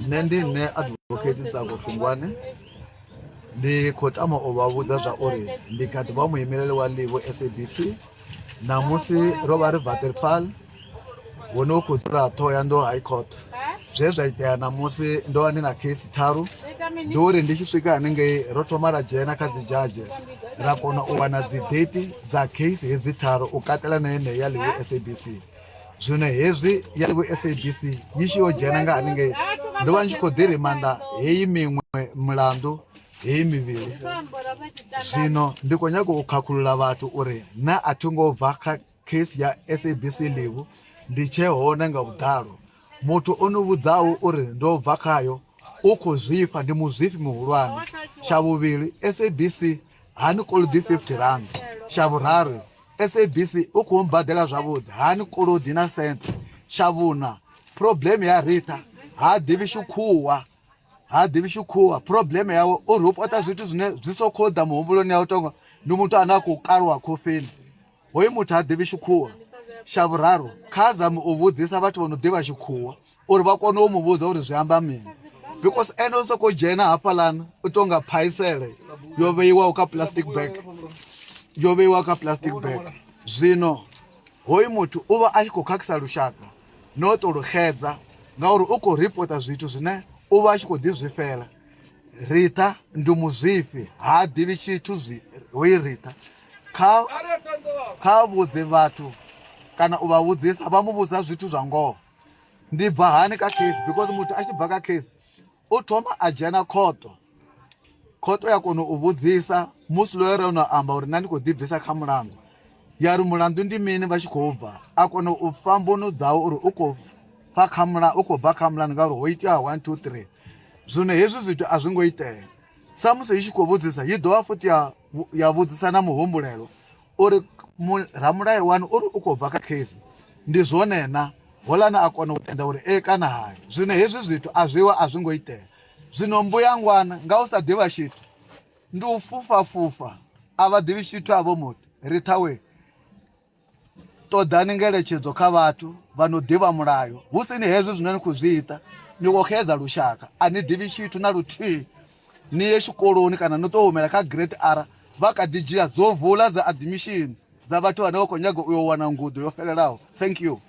nṋe ndi nṋe advocate tsako fungwane ndi khou tama u vha vhudza zwa uri ndi kha ḓi vha muimeleli wa livo sabc ṋamusi ro vha ri vaterfal hu ne u khou dzula ṱhoho ya ndo high court zwe zwa itea ṋamusi ndo vha ndi na case tharu ndi uri ndi tshi swika hanengei ro thoma ra dzhena kha dzi judge ra kona u wana dzi date dza case hedzi tharu u katela na yeneyo ya livo sabc Zwino hezwi ya vhu SABC yi tshi yo dzhena nga haningei ndo vha ndi tshi khou ḓi rimanda heyi miṅwe milandu heyi mivhili zwino ndi khou nyanga u khakhulula vhathu uri na a thi ngo bva kha case ya SABC Livhu ndi tshee hone nga vhuḓalo muthu o no vhudzaho uri ndo bva khayo u khou zwifha ndi muzwifhi muhulwane tsha vhuvhili SABC Hani kolodi R50, Tsha vhuraru, SABC u khou mbaḓela zwavhuḓi hani kolodi na senthe? Tsha vhuṋa, phurobleme ya Ritha ha ḓivhi shukhuwa ha ḓivhi shukhuwa phurobleme yawe uri u pota zwithu zwine zwi so khou ḓa muhumbuloni ya u tonga ndi muthu ane a khou kaluwa khofheni Hoyu muthu ha ḓivhi tshikhuwa. Tsha vhuraru, kha zame u vhudzisa vhathu vho no ḓivha tshikhuwa uri vha kone u mu vhudza uri zwi amba mini because ene u sokou dzhena hafhaḽana u tou nga phaisele yo vheiwaho kha plastic bag yo vheiwaho kha plastic bag zwino hoyu muthu u vha a tshi khou khakhisa lushaka no u tou luxedza ngauri u khou ripota zwithu zwine u vha a tshi khou ḓi zwifhela Ritha ndi muzwifhi ha ḓivhi tshithu zwi hoyi Ritha kha kha vhudze vhathu kana u vha vhudzisa vha mu vhudza zwithu zwa ngoho ndi bva hani kha case because muthu a tshi bva kha case u thoma a dzhena khoto khoto ya kona u vhudzisa musi loyo re no amba uri nṋe ndi khou ḓibvisa kha mulandu ya ri mulandu ndi mini vha tshi khou bva a kona u fa mbuno dzawo uri u khou fa kha mula u khou bva kha mulandu ngauri ho itea one two three zwino hezwi zwithu a zwi ngo itea samusi i tshi khou vhudzisa yi dovha futhi ya ya vhudzisa na muhumbulelo uri ramulayo wanu uri u khou bva kha case ndi zwone na holana a kona u tenda uri e kana hai zwino hezwi zwithu a zwiwa a zwi ngo itea zwino mbuyangwana nga u sa ḓivha tshithu ndi u fhufha fhufha a vha ḓivhi tshithu a vho muthu ri ṱhawe ṱoḓani ngeletshedzo kha vhathu vha no ḓivha mulayo hu si ni hezwi zwine ni khou zwi ita ni khou xedza lushaka a ni ḓivhi tshithu na luthihi ni ye tshikoloni kana ni tou humela kha grade r vha kha ḓi dzhia dzo vula dza admission dza vhathu vhane vha khou nyaga u yo wana ngudo yo fhelelaho thank you